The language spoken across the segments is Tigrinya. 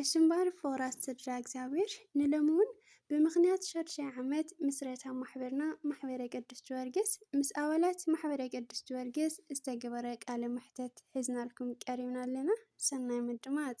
እሽምባሪ ፎራት ስድራ እግዚኣብሔር ንሎሚ እውን ብምኽንያት ሻድሻይ ዓመት ምስረታ ማሕበርና ማሕበረ ቅዱስ ጀወርግስ ምስ ኣባላት ማሕበረ ቅዱስ ጀወርግስ ዝተገበረ ቃለ መሕተት ሒዝናልኩም ቀሪብና ኣለና። ሰናይ ምድማፅ።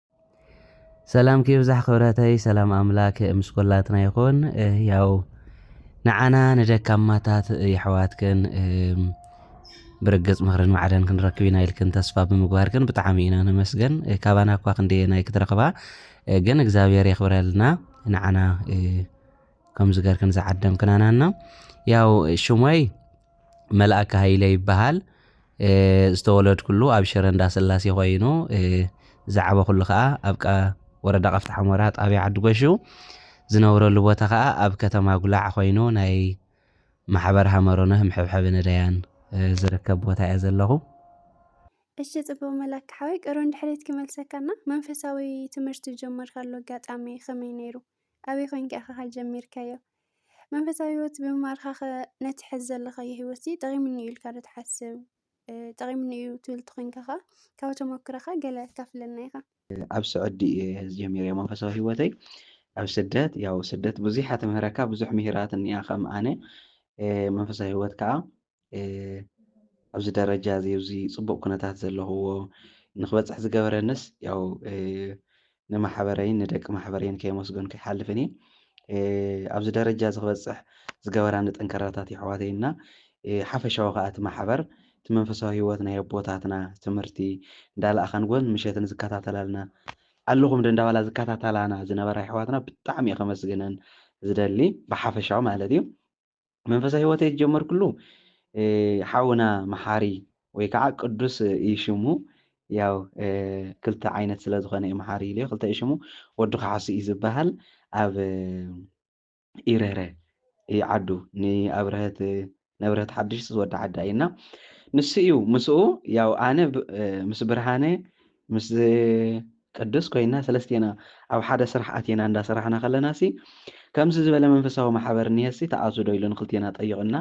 ሰላምኪ ይብዛሕ ክብረተይ ሰላም ኣምላክ ምስ ኩላትና ይኹን። ያው ንዓና ንደካማታት የሕዋትክን ብርግጽ ምኽርን ማዕደን ክንረክብ ኢና ኢልክን ተስፋ ብምግባርክን ብጣዕሚ ኢና ነመስገን። ካባና እኳ ክንደየናይ ክትረኽባ ግን እግዚኣብሔር የኽብረልና ንዓና ከምዚ ገርክን ዝዓደምክናናና ያው ሽሞይ መልኣከ ሃይለ ይበሃል ዝተወለድኩሉ ኣብ ሽረ እንዳስላሴ ኮይኑ ዝዓበኹሉ ከዓ ኣብ ወረዳ ቃፍታ ሓሞራ ጣብያ ዓዲ ጎሹ ዝነብረሉ ቦታ ከዓ ኣብ ከተማ ጉላዕ ኮይኑ ናይ ማሕበር ሃመሮነህ ምሕብሐቢ ነዳያን ዝርከብ ቦታ እያ ዘለኹ እሺ ጽቡቅ መላክ ሓወይ ቅሩን ድሕሪት ክመልሰካና መንፈሳዊ ትምህርቲ ጀመርካሉ ኣጋጣሚ ከመይ ነይሩ ኣበይ ኮንካ ኢኻ ጀሚርካዮ መንፈሳዊ ህይወት ብምምሃርካኸ ነቲ ሕዚ ዘለኻዮ ህይወትሲ ጠቒሙኒ እዩ ኢልካ ዶ ትሓስብ? ጠቒሙኒ እዩ ትብል እንተኾይንካ ኸኣ ካብ ተመክሮኻ ገለ ኣካፍለና ኢኻ። ኣብ ስዑዲ እየ ጀሚረ መንፈሳዊ ህይወተይ ኣብ ስደት ያው ስደት ብዙሕ እያ ትምህረካ ብዙሕ ምሂራት እኒኣ ከም ኣነ መንፈሳዊ ህይወት ከኣ ኣብዚ ደረጃ እዚ ኣብዚ ፅቡቅ ኩነታት ዘለኽዎ ንክበፅሕ ዝገበረንስ ያው ንማሕበረይን ንደቂ ማሕበረይን ከየመስገንኩ ይሓልፍን እየ ኣብዚ ደረጃ እዚ ክበፅሕ ዝገበራኒ ጠንከራታት የሕዋተይ እና ሓፈሻዊ ከዓ እቲ ማሕበር እቲ መንፈሳዊ ህይወት ናይ ኣቦታትና ትምህርቲ እንዳለኣኻን ጎን ምሸትን ዝከታተላልና ኣለኹም ዶ እንዳባላ ዝከታተላና ዝነበራ የሕዋትና ብጣዕሚ እየ ከመስግነን ዝደሊ ብሓፈሻዊ ማለት እዩ መንፈሳዊ ህይወተይ ዝጀመርኩሉ ሓውና መሓሪ ወይ ከዓ ቅዱስ እዩ ሽሙ ያው ክልተ ዓይነት ስለ ዝኾነ እዩ መሓሪ ኢልዮ ክልተ እዩ ሽሙ ወዲ ክሓሱ እዩ ዝበሃል ኣብ ኢረረ እዩ ዓዱ ንኣብረህት ነብረህት ሓድሽ ዝወዲ ዓዳ እዩና ንሱ እዩ ምስኡ ያው ኣነ ምስ ብርሃነ ምስ ቅዱስ ኮይና ሰለስቴና ኣብ ሓደ ስራሕ ኣቲና እንዳ ሰራሕና ከለናሲ ከምዚ ዝበለ መንፈሳዊ ማሕበር እኒሀሲ ትኣትው ዶ ኢሉ ንክልቴና ጠይቕና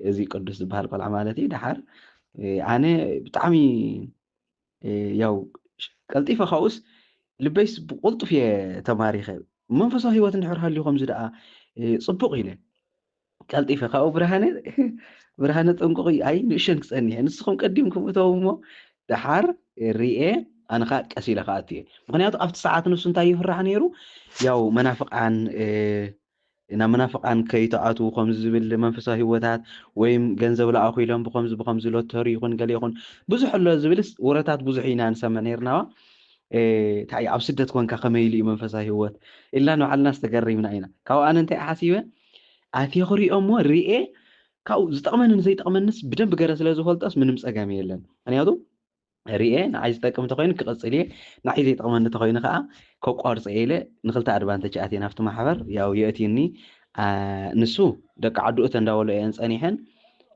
እዚ ቅዱስ ዝበሃል ቆልዓ ማለት እዩ ደሓር ኣነ ብጣዕሚ ያው ቀልጢፈ ካብኡስ ልበይስ ብቁልጡፍ እየ ተማሪኸ መንፈሳዊ ሂወት እንድሕር ሃልዩ ከምዚ ደኣ ፅቡቕ ኢለ ቀልጢፈ ካብኡ ብርሃነ ብርሃነ ጥንቁቕ እዩ ኣይ ንእሸን ክጸኒሐ ንስኹም ቀዲምኩም እተው እሞ ደሓር ርኤ ኣነ ከዓ ቀስ ኢለ ክኣቱ እየ ምክንያቱ ኣብቲ ሰዓት ንሱ እንታይ ይፍራሕ ነይሩ ያው መናፍቃን ናብ መናፍቃን ከይተኣትዉ ከምዚ ዝብል መንፈሳዊ ህይወታት ወይም ገንዘብ ለኣኹ ኢሎም ብከምዚ ብከምዚ ሎተሪ ይኹን ገለ ይኹን ብዙሕ ኣሎ ዝብልስ ወረታት ብዙሕ ኢና ንሰምዕ ነርናዋ እንታይ ኣብ ስደት ኮንካ ከመይ ኢሉ እዩ መንፈሳዊ ህይወት ኢልና ንባዕልና ዝተገሪምና ኢና ካብኡ ኣነ እንታይ ሓሲበ ኣትየ ክሪኦሞ ሪኤ ካብኡ ዝጠቅመኒ ንዘይጠቅመኒስ ብደንብ ገረ ስለ ዝፈልጦስ ምንም ጸገም የለን ምክንያቱ ሪኤ ንዓይ ዝጠቅም እንተኮይኑ ክቅጽል እየ ንዓይ ዘይጠቅመኒ እንተኮይኑ ከዓ ከቋርጾ እየ ኢለ ንክልተ ኣድቫንተጅ ኣትየ ናብቲ ማሕበር ያው የእትዩኒ ንሱ ደቂ ዓዱ እተ እንዳበሎ እየን ጸኒሐን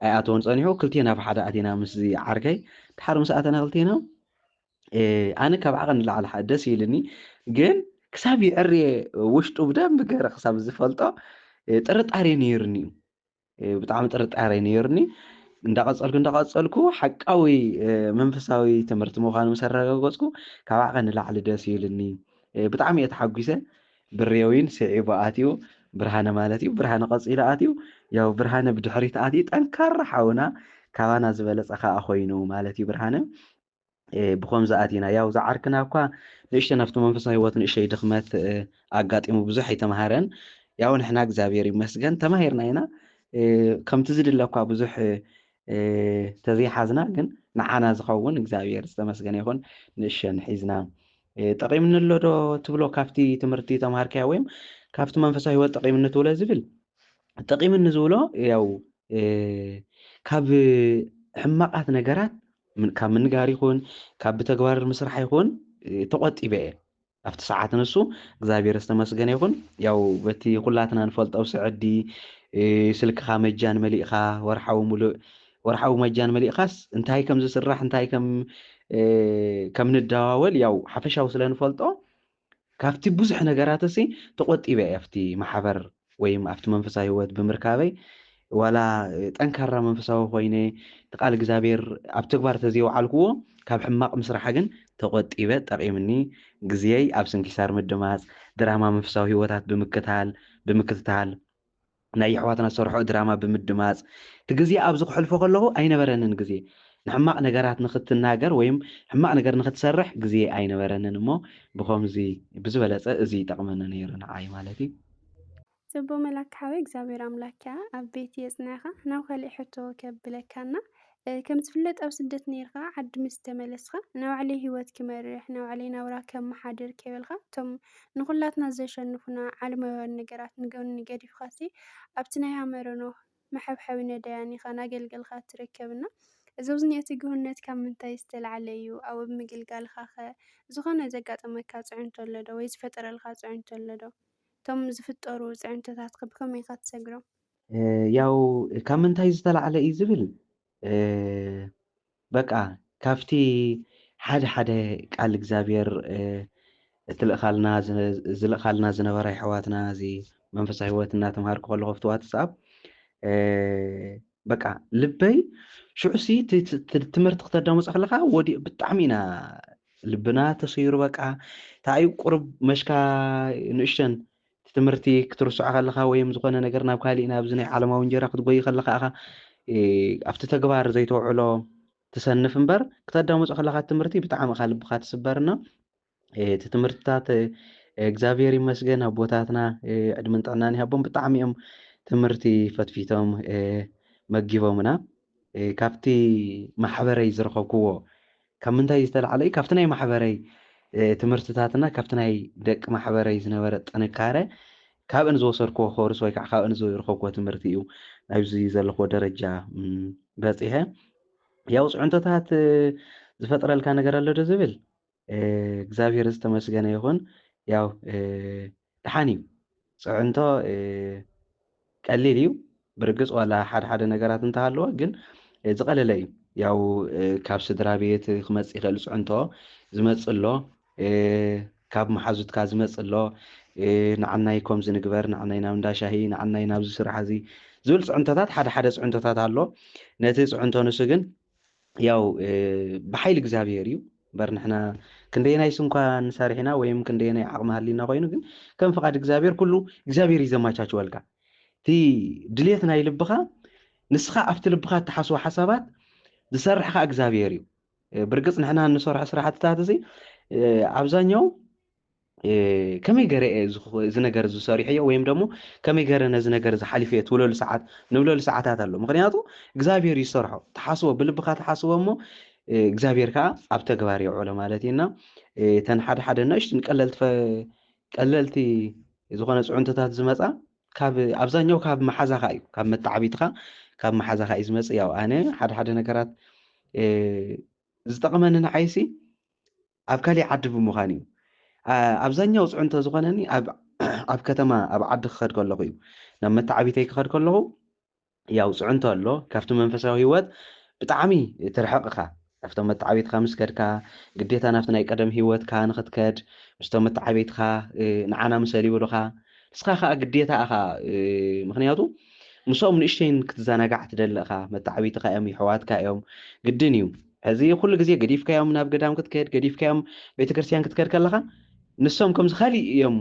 ኣይኣተወን ጸኒሑ ክልቴና ብሓደ ኣቴና ምስዚ ዓርከይ ድሓር ምስ ኣተና ክልቴና ኣነ ካብ ዓቐን ንላዕሊ ሓ ደስ ኢልኒ ግን ክሳብ ይዕርየ ውሽጡ ብደንብ ገረ ክሳብ ዝፈልጦ ጥርጣሬ ነይሩኒ እዩ ብጣዕሚ ጥርጣሬ ነይሩኒ እንዳቐፀልኩ እንዳቐፀልኩ ሓቃዊ መንፈሳዊ ትምህርቲ ምዃኑ ምስ ኣረጋገፅኩ ካብ ዓቐን ንላዕሊ ደስ ኢልኒ ብጣዕሚ እየ ተሓጒሰ ብሬዊን ስዒቡ ኣትዩ ብርሃነ ማለት እዩ ብርሃነ ቀፂሉ ኣትዩ ያው ብርሃነ ብድሕሪት ኣትዩ ጠንካራ ሓውና ካባና ዝበለፀ ከዓ ኮይኑ ማለት እዩ ብርሃነ ብኸምዚ ኣቲና ያው ዝዓርክና እኳ ንእሽተ ናብቲ መንፈሳዊ ህይወት ንእሽተይ ድኽመት ኣጋጢሙ ብዙሕ ኣይተምሃረን ያው ንሕና እግዚኣብሔር ይመስገን ተማሂርና ኢና ከምቲ ዝድለ እኳ ብዙሕ ተዘይሓዝና ግን ንዓና ዝኸውን እግዚኣብሔር ዝተመስገነ ይኹን ንእሸን ሒዝና ጠቂምኒ ኣሎ ዶ ትብሎ ካብቲ ትምህርቲ ተምሃርካያ ወይም ካብቲ መንፈሳዊ ህይወት ጠቂምኒ ትብሎ ዝብል ጠቂምኒ ዝብሎ ያው ካብ ሕማቃት ነገራት ካብ ምንጋር ይኹን ካብ ብተግባር ምስራሕ ይኹን ተቆጢበ እየ ኣብቲ ሰዓት ንሱ እግዚኣብሔር ዝተመስገነ ይኹን ያው በቲ ኩላትና ንፈልጦ ስዕዲ ስልክኻ መጃን መሊእኻ ወርሓዊ ሙሉእ ወርሓዊ መጃን መሊእኻስ እንታይ ከም ዝስራሕ እንታይ ከም ከም ንደዋወል ያው ሓፈሻዊ ስለ ንፈልጦ ካብቲ ብዙሕ ነገራትሲ ተቆጢበ እየ ኣብቲ ማሕበር ወይም ኣብቲ መንፈሳዊ ህይወት ብምርካበይ ዋላ ጠንካራ መንፈሳዊ ኮይነ እቲ ቃል እግዚኣብሔር ኣብ ተግባር ተዘየውዓልክዎ ካብ ሕማቅ ምስራሕ ግን ተቆጢበ ጠቂምኒ ግዝየይ ኣብ ስንኪሳር ምድማፅ ድራማ መንፈሳዊ ህይወታት ብምክታል ብምክትታል ናይ የሕዋትና ዝሰርሕኦ ድራማ ብምድማጽ እቲ ግዜ ኣብዚ ከሕልፎ ከለኹ ኣይነበረንን ግዜ ንሕማቅ ነገራት ንኽትናገር ወይም ሕማቅ ነገር ንኽትሰርሕ ግዜ ኣይነበረንን እሞ ብኸምዚ ብዝበለጸ እዚ ይጠቅመኒ ነይሩ ንዓይ ማለት እዩ። ጽቡቅ መላክ ሓወይ እግዚኣብሔር ኣምላክ ከኣ ኣብ ቤት የጽንዕካ ናብ ካሊእ ሕቶ ከብለካ እና ከም ዝፍለጥ ኣብ ስደት ኔርካ ዓዲ ምስ ተመለስካ ናይ ባዕለይ ሂወት ክመርሕ ናይ ባዕለይ ናብራ ከመሓድር ከይበልካ እቶም ንኹላትና ዘሸንፉና ዓለማውያን ነገራት ንጎኒ ገዲፍካሲ ኣብቲ ናይ ሃመረ ኖህ መሐብሐቢ ነዳያን ኢኻ ናገልገልካ ትርከብ እና እዚ ኣብዚ ዝኒኦ ትግህነት ካብ ምንታይ ዝተላዕለ እዩ ኣብኡ ኣብ ምግልጋልካኸ ዝኾነ ዘጋጠመካ ፅዕንቶ ኣሎ ዶ ወይ ዝፈጠረልካ ፅዕንቶ ኣሎ ዶ እቶም ዝፍጠሩ ፅዕንቶታትከ ብኸመይ ኢኻ ትሰግሮም? ያው ካብ ምንታይ ዝተላዕለ እዩ ዝብል በቃ ካብቲ ሓደ ሓደ ቃል እግዚኣብሔር እትልእካልና ዝልእካልና ዝነበረ ኣሕዋትና እዚ መንፈሳዊ ህይወት እናተምሃርኩ ከለኹ ኣብቲ ዋትስኣፕ በቃ ልበይ ሽዑሲ ትምህርቲ ክተዳምፆ ከለካ ወዲኡ ብጣዕሚ ኢና ልብና ተሰይሩ በቃ እንታይ እዩ ቁርብ መሽካ ንእሽተን እቲ ትምህርቲ ክትርስዖ ከለኻ ወይም ዝኾነ ነገር ናብ ካሊእ ናብዚ ናይ ዓለማዊ እንጀራ ክትጎይ ከለኻ ኢኻ ኣብቲ ተግባር ዘይተውዕሎ ትሰንፍ እምበር ክተዳምፆ ከለኻ ትምህርቲ ብጣዕሚ እኻ ልብኻ ትስበርና እቲ ትምህርትታት እግዚኣብሔር ይመስገን ኣቦታትና ዕድመን ጥዕናን ይሃቦም ብጣዕሚ እዮም ትምህርቲ ፈትፊቶም መጊቦምና ካብቲ ማሕበረይ ዝረኸብኩዎ ካብ ምንታይ ዝተላዕለ እዩ ካብቲ ናይ ማሕበረይ ትምህርትታትና ካብቲ ናይ ደቂ ማሕበረይ ዝነበረ ጥንካረ ካብእን ዝወሰድኩዎ ኮርስ ወይ ከዓ ካብእን ዝረኸብኩዎ ትምህርቲ እዩ ኣብዚ ዘለኹዎ ደረጃ በፂሐ ያው ፅዕንቶታት ዝፈጥረልካ ነገር ኣሎ ዶ ዝብል እግዛብሄር ዝተመስገነ ይኹን ያው ደሓን እዩ ፅዕንቶ ቀሊል እዩ ብርግፅ ዋላ ሓደ ሓደ ነገራት እንተሃለወ ግን ዝቐለለ እዩ ያው ካብ ስድራ ቤት ክመፅእ ይኽእል ፅዕንቶ ዝመፅእ ኣሎ ካብ መሓዙትካ ዝመፅእ ኣሎ ንዓናይ ከምዚ ንግበር ንዓናይ ናብ እንዳሻሂ ንዓናይ ናብዚ ስራሕ እዚ ዝብል ፅዕንቶታት ሓደ ሓደ ፅዕንቶታት ኣሎ ነቲ ፅዕንቶ ንሱ ግን ያው ብሓይሊ እግዚኣብሔር እዩ እምበር ንሕና ክንደየናይ ስንኳ ንሰርሕ ኢና ወይም ክንደየናይ ዓቕሚ ሃሊና ኮይኑ ግን ከም ፍቓድ እግዚኣብሔር ኩሉ እግዚኣብሔር እዩ ዘማቻችወልካ እቲ ድሌት ናይ ልብኻ ንስኻ ኣብቲ ልብኻ እትሓስቦ ሓሳባት ዝሰርሕ ከዓ እግዚኣብሔር እዩ ብርግፅ ንሕና እንሰርሖ ስራሕትታት እዚ ኣብዛኛው ከመይ ገረ እየ እዚ ነገር ዝሰሪሐዮ ወይም ደሞ ከመይ ገረ ነዚ ነገር ዝሓሊፈ እየ ትብለሉ ሰዓት ንብለሉ ሰዓታት ኣሎ ምክንያቱ እግዚኣብሔር እዩ ዝሰርሖ ተሓስቦ ብልብካ ተሓስቦ እሞ እግዚኣብሔር ከዓ ኣብ ተግባር የውዕሎ ማለት እዩና እተን ሓደ ሓደ ንእሽትን ቀለልቲ ቀለልቲ ዝኾነ ፅዕንቶታት ዝመፃ ካብ ኣብዛኛው ካብ መሓዛኻ እዩ ካብ መተዓቢትኻ ካብ መሓዛኻ እዩ ዝመፅእ ያው ኣነ ሓደ ሓደ ነገራት ዝጠቕመኒ ንዓይሲ ኣብ ካሊእ ዓዲ ብምዃን እዩ። ኣብዛኛው ፅዕንቶ ዝኾነኒ ኣብ ከተማ ኣብ ዓዲ ክኸድ ከለኹ እዩ። ናብ መታዓቢተይ ክኸድ ከለኹ ያው ፅዕንቶ ኣሎ ካብቲ መንፈሳዊ ህይወት ብጣዕሚ ትርሕቕ እኻ። ናፍቶም መታዓቢትኻ ምስ ከድካ ግዴታ ናፍቲ ናይ ቀደም ህይወትካ ንኽትከድ ምስቶም መታዓቢትኻ ንዓና ምሰል ይብሉኻ ንስኻ ኻዓ ግዴታ እኻ ምኽንያቱ ምስኦም ንእሽተይን ክትዘናጋዕ ትደሊ እኻ መታዓቢትኻ እዮም የሕዋትካ እዮም ግድን እዩ። ሕዚ ኩሉ ግዜ ገዲፍካዮም ናብ ገዳም ክትከድ ገዲፍካዮም ቤተክርስትያን ክትከድ ከለኻ ንሶም ከምዚ ካሊእ እዮም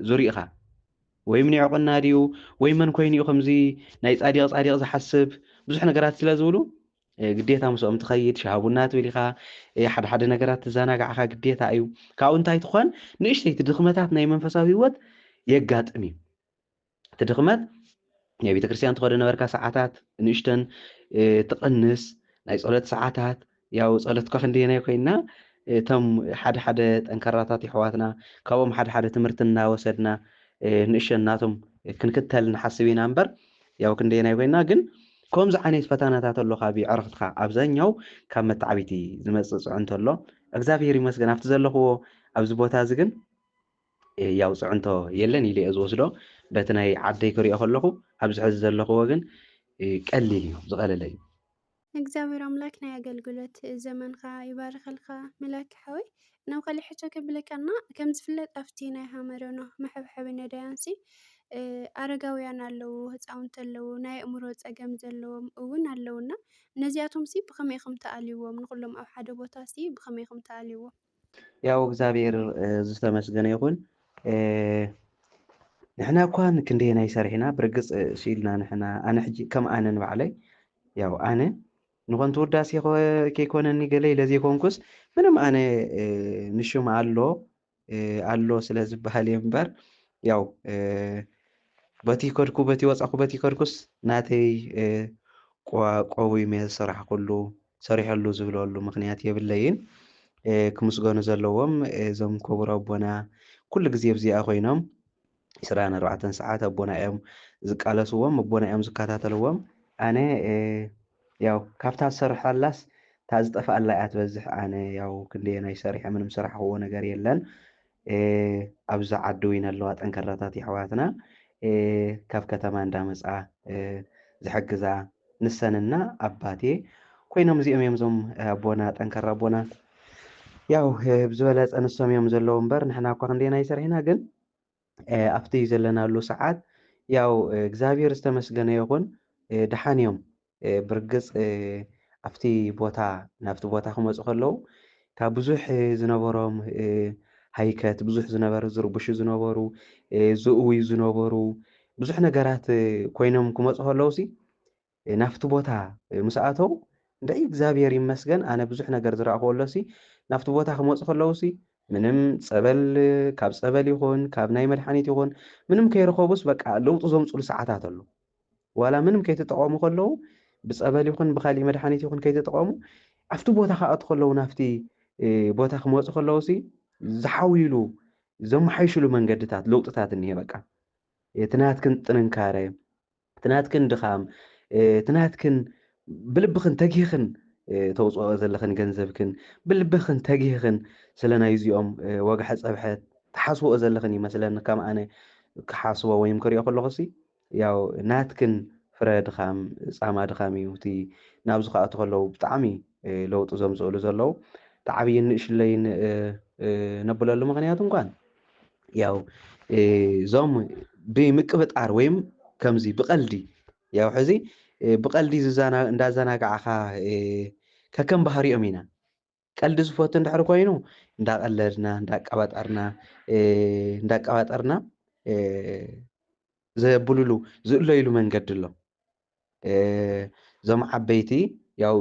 ዙሪእኻ ወይ ምኒዕቁና ድዩ ወይ መን ኮይኑ እዩ ከምዚ ናይ ጻዲቕ ጻዲቕ ዝሓስብ ብዙሕ ነገራት ስለ ዝብሉ ግዴታ ምስኦም ትኸይድ ሻሃቡና ትብል ኢኻ ሓደ ሓደ ነገራት ትዘናጋዕኻ ግዴታ እዩ ካብኡ እንታይ ትኾን ንእሽተይቲ ድኽመታት ናይ መንፈሳዊ ህይወት የጋጥም እዩ እቲ ድኽመት ናይ ቤተ ክርስቲያን ትኸዶ ነበርካ ሰዓታት ንእሽተን ትቕንስ ናይ ጸሎት ሰዓታት ያው ጸሎትካ ክንደየናይ ኮይና እቶም ሓደ ሓደ ጠንካራታት ይሕዋትና ካብኦም ሓደ ሓደ ትምህርቲ እናወሰድና ንእሸን ናቶም ክንክተል ንሓስብ ኢና እምበር ያው ክንደየናይ ኮይና ግን ከምዚ ዓይነት ፈተናታት ኣሎ ካብ ዕረኽትካ ኣብዛኛው ካብ መታዕቢቲ ዝመፅእ ፅዕንቶ ኣሎ እግዚኣብሄር ይመስገን ኣብቲ ዘለኽዎ ኣብዚ ቦታ እዚ ግን ህያው ፅዕንቶ የለን ኢለ'የ ዝወስዶ። በቲ ናይ ዓደይ ክሪኦ ከለኹ ኣብዚ ሕዚ ዘለኹዎ ግን ቀሊል እዩ ዝቐለለ እዩ። እግዚኣብሔር ኣምላክ ናይ ኣገልግሎት ዘመንካ ይባርከልካ መላኪ ሓወይ ናብ ካሊእ ሕቶ ከብለካ እና ከም ዝፍለጥ ኣብቲ ናይ ሃመረኖ መሐብሐቢ ነዳያንሲ ኣረጋውያን ኣለዉ ህፃውንቲ ኣለዉ ናይ ኣእምሮ ፀገም ዘለዎም እውን ኣለውና ነዚኣቶምሲ ብከመይ ኢኹም ተኣልይዎም ንኩሎም ኣብ ሓደ ቦታሲ ብከመይ ኢኹም ተኣልይዎም ያው እግዚኣብሔር ዝተመስገነ ይኹን ንሕና እኳ ክንደየናይ ሰሪሕና ብርግፅ ስኢልና ንሕና ኣነ ሕጂ ከም ኣነ ንባዕለይ ያው ኣነ ንኾንቱ ውዳሴ ከይኮነኒ ገለ ኢለ ዘይኮንኩስ ምንም ኣነ ንሹም ኣሎ ኣሎ ስለ ዝበሃል እየ እምበር ያው በቲ ከድኩ በቲ ወፃኹ በቲ ከድኩስ ናተይ ቆዊመ ዝሰራሕኩሉ ሰሪሖሉ ዝብለሉ ምክንያት የብለይን ክምስገኑ ዘለዎም እዞም ክቡር ኣቦና ኩሉ ግዜ ኣብዚኣ ኮይኖም ዕስራን ኣርባዕተን ሰዓት ኣቦና እዮም ዝቃለስዎም ኣቦና እዮም ዝከታተልዎም ኣነ ያው ካብታ ዝሰርሐላስ እታ ዝጠፍኣላ እያ ትበዝሕ ኣነ ያው ክንደየናይ ሰሪሐ ምንም ስራሕክዎ ነገር የለን ኣብዛ ዓዲ ዊን ኣለዋ ጠንከራታት የሕዋትና ካብ ከተማ እንዳመጻ ዝሕግዛ ንሰን እና ኣባቴ ኮይኖም እዚኦም እዮም እዞም ኣቦና ጠንከራ ኣቦና ያው ብዝበለጸ ንሶም እዮም ዘለዉ እምበር ንሕና እኳ ክንደና ይሰርሒና ግን ኣብቲ ዘለናሉ ሰዓት ያው እግዚኣብሔር ዝተመስገነ ይኹን ድሓን እዮም ብርግጽ ኣብቲ ቦታ ናብቲ ቦታ ክመጹ ከለዉ ካብ ብዙሕ ዝነበሮም ሃይከት ብዙሕ ዝነበረ ዝርብሹ ዝነበሩ ዝእውዩ ዝነበሩ ብዙሕ ነገራት ኮይኖም ክመጹ ከለውሲ ናብቲ ቦታ ምስ ኣተው እንታይ እግዚኣብሔር ይመስገን ኣነ ብዙሕ ነገር ዝረእኹ ኣሎሲ ናብቲ ቦታ ክመፁ ከለውሲ ምንም ፀበል ካብ ፀበል ይኹን ካብ ናይ መድሓኒት ይኹን ምንም ከይረኸቡስ በቃ ለውጢ ዘምፅሉ ሰዓታት ኣሎ ዋላ ምንም ከይተጠቐሙ ከለዉ ብፀበል ይኹን ብካሊእ መድሓኒት ይኹን ከይተጠቐሙ ኣብቲ ቦታ ክኣቱ ከለዉ ናብቲ ቦታ ክመፁ ከለዉ ሲ ዝሓውይሉ ዘመሓይሽሉ መንገድታት ለውጥታት እኒሄ በቃ እቲ ናትክን ጥንካረ እቲ ናትክን ድኻም እቲ ናትክን ብልብኽን ተጊኽን ተውፅኦ ዘለኽን ገንዘብክን ብልብኽን ተጊኽን ስለ ናይ እዚኦም ወግሐ ፀብሐ ትሓስቦኦ ዘለኽን ይመስለኒ ከም ኣነ ክሓስቦ ወይም ክሪኦ ከለኹ ሲ ያው ናትክን ፍረ ድኻም ጻማ ድኻም እዩ እቲ ናብ ዝክኣቱ ከለው ብጣዕሚ ለውጢ ዘምጽእሉ ዘለው እቲ ዓብይን ንእሽለይን ነብለሉ ምክንያት እንኳን ያው ዞም ብምቅብጣር ወይም ከምዚ ብቀልዲ ያው ሕዚ ብቀልዲ እንዳዘናጋዕኻ ከከም ባህሪኦም ኢና ቀልዲ ዝፈቱ እንድሕር ኮይኑ እንዳቀለድና እንዳቀባጠርና እንዳቀባጠርና ዘብሉሉ ዝእለይሉ መንገዲ ኣሎ እዞም ዓበይቲ ያው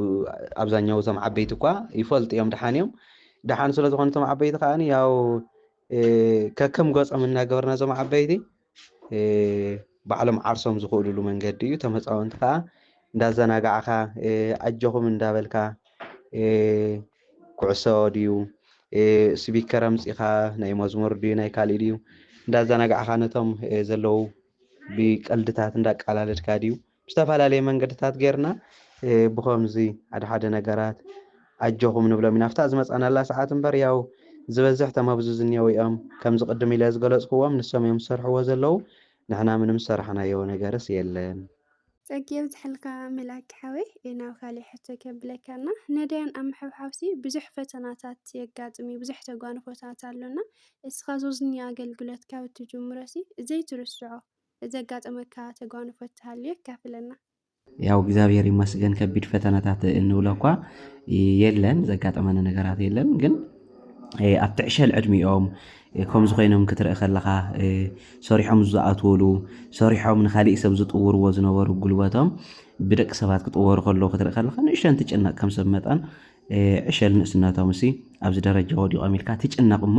ኣብዛኛው እዞም ዓበይቲ እኳ ይፈልጡ እዮም ድሓን እዮም ድሓን ስለ ዝኾኑ እቶም ዓበይቲ ከዓ ያው ከከም ገፆም እናገበርና እዞም ዓበይቲ ባዕሎም ዓርሶም ዝኽእሉሉ መንገዲ እዩ። እቶም ህፃውንቲ ከዓ እንዳዘናጋዕካ ኣጆኹም እንዳበልካ ኩዕሶ ድዩ ስቢከር ኣምፂኻ ናይ መዝሙር ድዩ ናይ ካሊእ ድዩ እንዳዘናጋዕካ ነቶም ዘለዉ ብቀልድታት እንዳቃላለድካ ድዩ ብዝተፈላለየ መንገድታት ጌርና ብኸምዚ ሓደ ሓደ ነገራት ኣጆኹም ንብሎም ኢና። ኣብታ ዝመጻናላ ሰዓት እምበር ያው ዝበዝሕ እቶም ኣብዚ ዝንሄዉ እዮም። ከምዚ ቅድም ኢለ ዝገለጽኩዎም ንሶም እዮም ዝሰርሕዎ ዘለዉ። ንሕና ምንም ዝሰራሕናዮ ነገርስ የለን። ጸጊ የብዝሐልካ መላኪ ሓወይ ናብ ካሊእ ሕቶ ከብለካ እና ነዳያን ኣብ ምሕብሓብሲ ብዙሕ ፈተናታት የጋጥም እዩ ብዙሕ ተጓንፎታት ኣሎና እስኻ ዞዝኒ ኣገልግሎት ካብ እትጅምሮሲ ዘይትርስዖ እዚ ዘጋጠመካ ተጓንፎ ተሃልዩ ኣካፍለና። ያው እግዚኣብሔር ይመስገን ከቢድ ፈተናታት እንብሎ እኳ የለን ዘጋጠመኒ ነገራት የለን ግን ኣብ ትዕሸል ዕድሚኦም ከምዚ ኮይኖም ክትርኢ ከለኻ ሰሪሖም ዝኣትወሉ ሰሪሖም ንካሊእ ሰብ ዝጥውርዎ ዝነበሩ ጉልበቶም ብደቂ ሰባት ክጥወሩ ከለዉ ክትርኢ ከለኻ ንእሽተን ትጭነቕ ከም ሰብ መጠን ዕሸል ንእስነቶም ሲ ኣብዚ ደረጃ ወዲቖም ኢልካ ትጭነቕ እሞ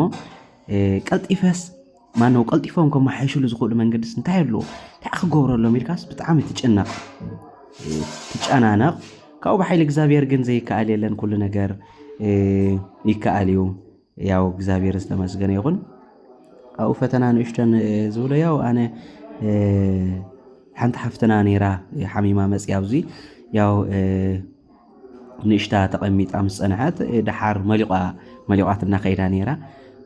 ቀልጢፈስ ማነው ቀልጢፎም ከመሓይሽሉ ዝኽእሉ መንገድስ እንታይ ኣለዎ እንታይ ክገብረሎም ኢልካስ ብጣዕሚ ትጭነቕ ትጨናነቕ ካብኡ ብሓይሊ እግዚኣብሔር ግን ዘይከኣል የለን ኩሉ ነገር ይከኣል እዩ ያው እግዚኣብሔር ዝተመስገነ ይኹን ኣብኡ ፈተና ንእሽተን ዝብሎ ያው ኣነ ሓንቲ ሓፍትና ነይራ ሓሚማ መፅያ ኣብዚ ያው ንእሽታ ተቐሚጣ ምስ ጸንሐት ደሓር መሊቋ መሊቋት እናኸይዳ ነይራ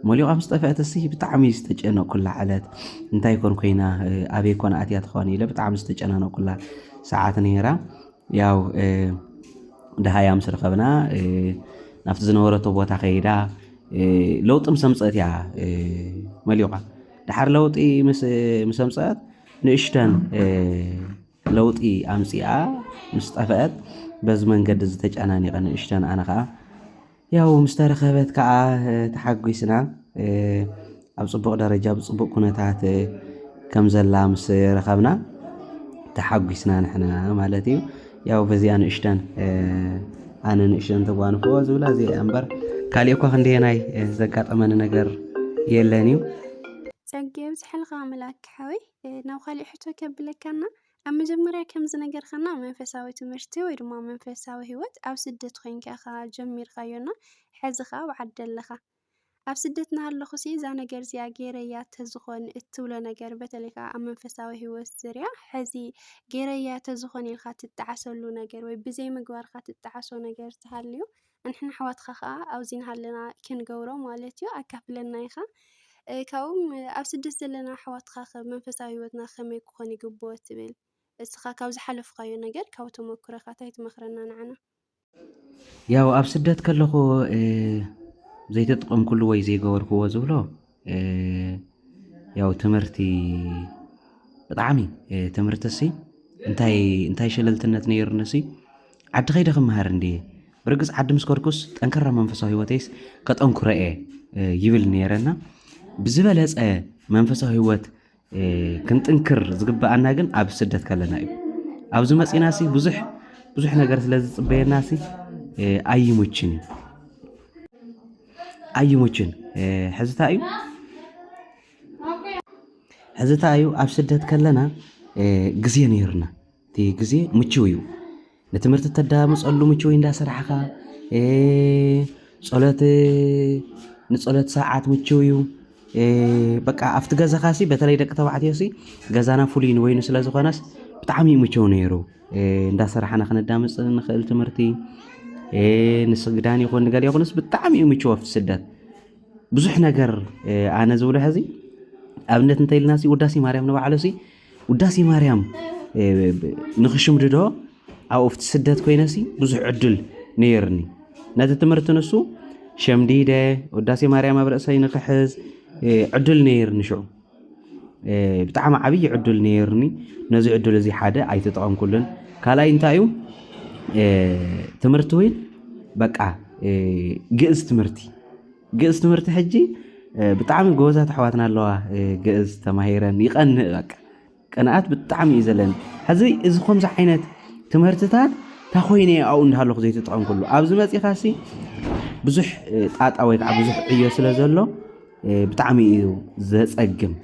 መሊቋ ምስ ጠፍአት እሲ ብጣዕሚ ዝተጨነቕኩላ ዕለት እንታይ ኮን ኮይና ኣበይ ኮን ኣትያ ትኾን ኢለ ብጣዕሚ ዝተጨናነቕኩላ ሰዓት ነይራ ያው ድሃያ ምስ ረኸብና ናብቲ ዝነበረቶ ቦታ ከይዳ ለውጢ ምስ ኣምፀአት እያ መሊቋ ደሓር ለውጢ ምስ ኣምፀአት ንእሽተን ለውጢ ኣምጺኣ ምስ ጠፈኣት በዚ መንገዲ እዚ ተጨናኒቐ ንእሽተን ኣነ ከኣ ያው ምስ ተረኸበት ከኣ ተሓጒስና ኣብ ጽቡቕ ደረጃ ብጽቡቕ ኩነታት ከም ዘላ ምስ ረኸብና ተሓጒስና ንሕና ማለት እዩ ያው በዚኣ ንእሽተን ኣነ ንእሽተን ተጓንፎ ዝብላ እዚኣ እምበር ካሊእ እኳ ክንደየናይ ዘጋጠመኒ ነገር የለን እዩ ጸጊ የብዝሐልካ ኣምላክ ሓወይ ናብ ኻሊእ ሕቶ ከብለካ እና ኣብ መጀመርያ ከም ዝነገርካና መንፈሳዊ ትምህርቲ ወይ ድማ መንፈሳዊ ህይወት ኣብ ስደት ኮይንካ ኢኻ ጀሚርካዮ እና ሐዚ ኻዓ ኣብ ዓዲ ኣለኻ ኣብ ስደት እናሃለኹ ሲ እዛ ነገር እዚኣ ገይረያ ተዝኾን እትብሎ ነገር በተለይ ኻዓ ኣብ መንፈሳዊ ህይወት ዙርያ ሐዚ ገይረያ ተዝኾን ኢልካ ትጠዓሰሉ ነገር ወይ ብዘይ ምግባርካ ትጠዓሶ ነገር ተሃልዩ ኣንሕና ኣሕዋትካ ከኣ ኣብዚ ናሃለና ክንገብሮ ማለት እዩ ኣካፍለና ኢካ ካብኡ ውን ኣብ ስደት ዘለና ኣሕዋትካ ከ መንፈሳዊ ሂወትና ከመይ ክኮን ይግብኦ ትብል እስካ ካብ ዝሓለፍካዮ ነገር ካብ ተመኩሮካ ታይ ትመክረና ንዓና። ያው ኣብ ስደት ከለኩ ዘይተጥቐምኩሉ ወይ ዘይገበርክዎ ዝብሎ፣ ያው ትምህርቲ ብጣዕሚ ትምህርቲ እሲ እንታይ እንታይ ሸለልትነት ነይሩኒ እሲ ዓዲ ከይደ ክምሃር እንድየ ብርግፅ ዓዲ ምስ ከድኩስ ጠንከራ መንፈሳዊ ህይወተይስ ከጠንክሮ እየ ይብል ነይረ እና ብዝበለፀ መንፈሳዊ ህይወት ክንጥንክር ዝግበኣና ግን ኣብ ስደት ከለና እዩ ኣብዚ መፂና ሲ ብዙሕ ብዙሕ ነገር ስለ ዝፅበየና ሲ ኣይሙችን እዩ ኣይሙችን ሕዝታ እዩ ሕዝታ እዩ ኣብ ስደት ከለና ግዜ ነይርና እቲ ግዜ ምችው እዩ ንትምህርቲ እተዳምፀሉ ምችው እንዳሰራሕኻ ፀሎት ንፀሎት ሰዓት ምችው እዩ በቃ ኣብቲ ገዛኻ ሲ በተለይ ደቂ ተባዕትዮ ሲ ገዛና ፍሉይ ንበይኑ ስለ ዝኾነስ ብጣዕሚ እዩ ምችው ነይሩ እንዳሰራሕና ክነዳምፅ ንኽእል ትምህርቲ ንስግዳን ይኹን ንገለ ይኹንስ ብጣዕሚ እዩ ምችው ኣብቲ ስደት ብዙሕ ነገር ኣነ ዝብሎ ሕዚ ኣብነት እንተይልና ሲ ውዳሴ ማርያም ንባዕሉ ሲ ውዳሴ ማርያም ንኽሽምድዶ ኣብኡ ኣብቲ ስደት ኮይነሲ ብዙሕ ዕድል ነይርኒ ነቲ ትምህርቲ ንሱ ሸምዲደ ውዳሴ ማርያም ኣብ ርእሰይ ንኽሕዝ ዕድል ነይርኒ ሽዑ ብጣዕሚ ዓብዪ ዕድል ነይርኒ ነዚ ዕድል እዚ ሓደ ኣይተጠቐምኩሉን ካልኣይ እንታይ እዩ ትምህርቲ ወይ በቃ ግእዝ ትምህርቲ ግእዝ ትምህርቲ ሕጂ ብጣዕሚ ጎበዛት ኣሕዋትና ኣለዋ ግእዝ ተማሂረን ይቀንእ በቃ ቅንኣት ብጣዕሚ እዩ ዘለኒ ሕዚ እዚ ከምዚ ዓይነት ትምህርትታት ታኮይነ ኣብኡ እንዳሃለኹ ዘይትጥቐም ኩሉ ኣብዚ መፂኻ ሲ ብዙሕ ጣጣ ወይ ከዓ ብዙሕ ዕዮ ስለ ዘሎ ብጣዕሚ እዩ ዘፀግም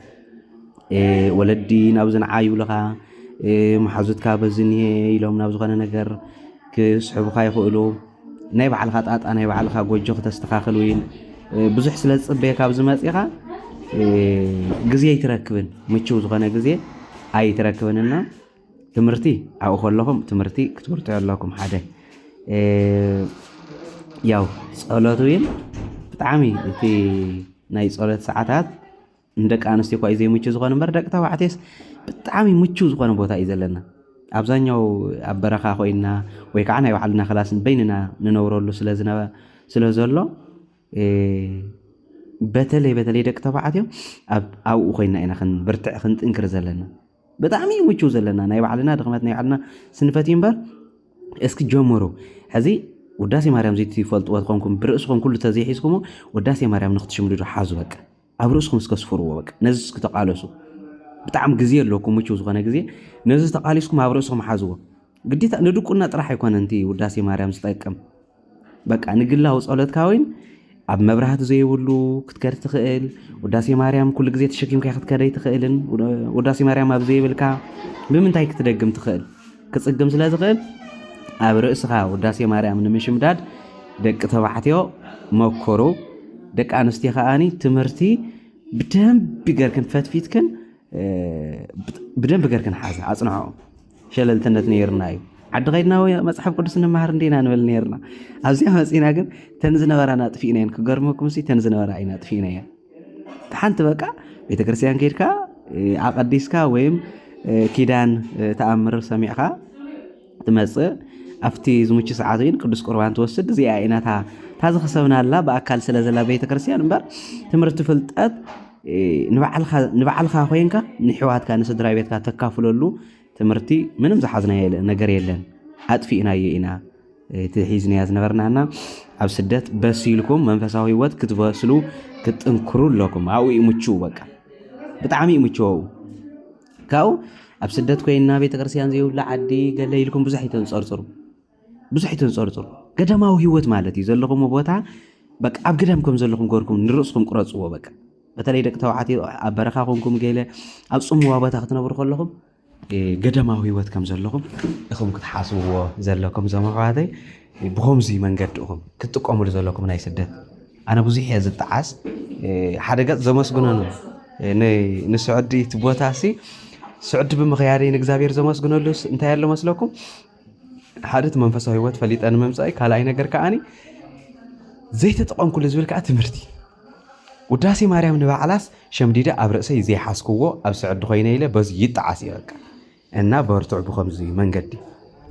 ወለዲ ናብ ዝንዓ ይብልኻ መሓዙትካ በዚ እኒሄ ኢሎም ናብ ዝኾነ ነገር ክስሕቡኻ ይኽእሉ ናይ ባዕልኻ ጣጣ ናይ ባዕልኻ ጎጆ ክተስተኻኽል ወይን ብዙሕ ስለ ዝፅበየካ ኣብዚ መፂኻ ግዜ ኣይትረክብን ምችው ዝኾነ ግዜ ኣይትረክብን እና ትምህርቲ ኣብኡ ከለኹም ትምህርቲ ክትምህርቱ ኣለኩም ሓደ ያው ፀሎት እውን ብጣዕሚ እቲ ናይ ፀሎት ሰዓታት ንደቂ ኣንስትዮ እኳ እዩ ዘይምቹ ዝኾነ እምበር ደቂ ተባዕትዮስ ብጣዕሚ ምቹው ዝኾነ ቦታ እዩ ዘለና ኣብዛኛው ኣብ በረኻ ኮይንና ወይ ከዓ ናይ ባዕልና ክላስ በይንና ንነብረሉ ስለ ዘሎ በተለይ በተለይ ደቂ ተባዕትዮ ኣብኡ ኮይና ኢና ክንብርትዕ ክንጥንክር ዘለና ብጣዕሚ እዩ ምቹው ዘለና ናይ ባዕልና ድኽመት ናይ ባዕልና ስንፈት እዩ እምበር እስኪ ጀምሩ ሕዚ ውዳሴ ማርያም ዘይትፈልጥዎ ትኾንኩም ብርእስኹም ኩሉ ተዘይሒዝኩሞ ውዳሴ ማርያም ንክትሽምድዱ ሓዙ በቃ ኣብ ርእስኩም እስከ ስፍርዎ በቃ ነዚ እስኪ ተቃለሱ ብጣዕሚ ግዜ ኣለኩም ምቹው ዝኾነ ግዜ ነዚ ተቃሊስኩም ኣብ ርእስኩም ሓዝዎ ግዴታ ንድቁና ጥራሕ ኣይኮነን እቲ ውዳሴ ማርያም ዝጠቅም በቃ ንግላዊ ጸሎትካ ወይን ኣብ መብራህቲ ዘይብሉ ክትከድ ትኽእል ውዳሴ ማርያም ኩሉ ግዜ ተሸኪምካ ክትከደይ ትኽእልን ውዳሴ ማርያም ኣብ ዘይብልካ ብምንታይ ክትደግም ትኽእል ክጽግም ስለ ዝኽእል ኣብ ርእስኻ ውዳሴ ማርያም ንምሽምዳድ ደቂ ተባዕትዮ መኮሩ ደቂ ኣንስትዮ ከዓኒ ትምህርቲ ብደንቢ ገርክን ፈትፊትክን ብደንቢ ገርክን ሓዘ ኣፅንዖ ሸለልትነት ነይርና እዩ ዓዲ ከይድና መፅሓፍ ቅዱስ ንመሃር እንዴና ንበል ነርና ኣብዚኣ መፅና ግን ተን ዝነበራና ጥፊእና እየን ክገርመኩም ሲ ተን ዝነበራ ኢና ጥፊእና እየን ሓንቲ በቃ ቤተክርስትያን ከድካ ኣቐዲስካ ወይም ኪዳን ተኣምር ሰሚዕካ ትመፅእ ኣብቲ ዝምቹ ሰዓት ግን ቅዱስ ቁርባን ትወስድ እዚኣ ኢናታ እታ ዝኸሰብናላ ብኣካል ስለ ዘላ ቤተክርስትያን እምበር ትምህርቲ ፍልጠት ንባዕልካ ኮንካ ንሕዋትካ ንስድራ ቤትካ ተካፍለሉ ትምህርቲ ምንም ዝሓዝናዮ ነገር የለን ኣጥፊእናዮ ኢና እቲ ሒዝናዮ ዝነበርና እና ኣብ ስደት በሲልኩም መንፈሳዊ ህይወት ክትበስሉ ክትጥንክሩ ኣለኩም ኣብኡ እዩ ምችው በቃ ብጣዕሚ እዩ ምችው ኣብኡ ካብኡ ኣብ ስደት ኮይንና ቤተክርስትያን ዘይብሉ ዓዲ ገለ ኢልኩም ብዙሕ ኣይተንፀርፅሩ ብዙሕ ኣይተንጸርጽሩ ገዳማዊ ህይወት ማለት እዩ ዘለኹም ቦታ በቃ ኣብ ገዳም ከም ዘለኹም ገርኩም ንርእስኩም ቅረጽዎ በቃ በተለይ ደቂ ተባዕትዮ ኣብ በረኻ ኮንኩም ገለ ኣብ ጽምዋ ቦታ ክትነብሩ ከለኹም ገዳማዊ ህይወት ከም ዘለኹም እኹም ክትሓስብዎ ዘለኩም እዞም ኣሕዋተይ ብኸምዚ መንገዲ እኹም ክትጥቀምሉ ዘለኩም ናይ ስደት ኣነ ብዙሕ እየ ዝጠዓስ ሓደ ገፅ ዘመስግኖ ንስዑዲ እቲ ቦታ ሲ ስዑዲ ብምኽያደይ ንእግዚኣብሔር ዘመስግነሉ እንታይ ኣሎ መስለኩም ሓደ እቲ መንፈሳዊ ህይወት ፈሊጠ ንምምፃእ ካልኣይ ነገር ከዓኒ ዘይተጠቐምኩሉ ዝብል ከዓ ትምህርቲ ውዳሴ ማርያም ንባዕላስ ሸምዲደ ኣብ ርእሰይ ዘይሓስክዎ ኣብ ስዕዲ ኮይነ ኢለ በዚ ይጠዓስ እየ በቃ እና በርትዑ ብከምዚ መንገዲ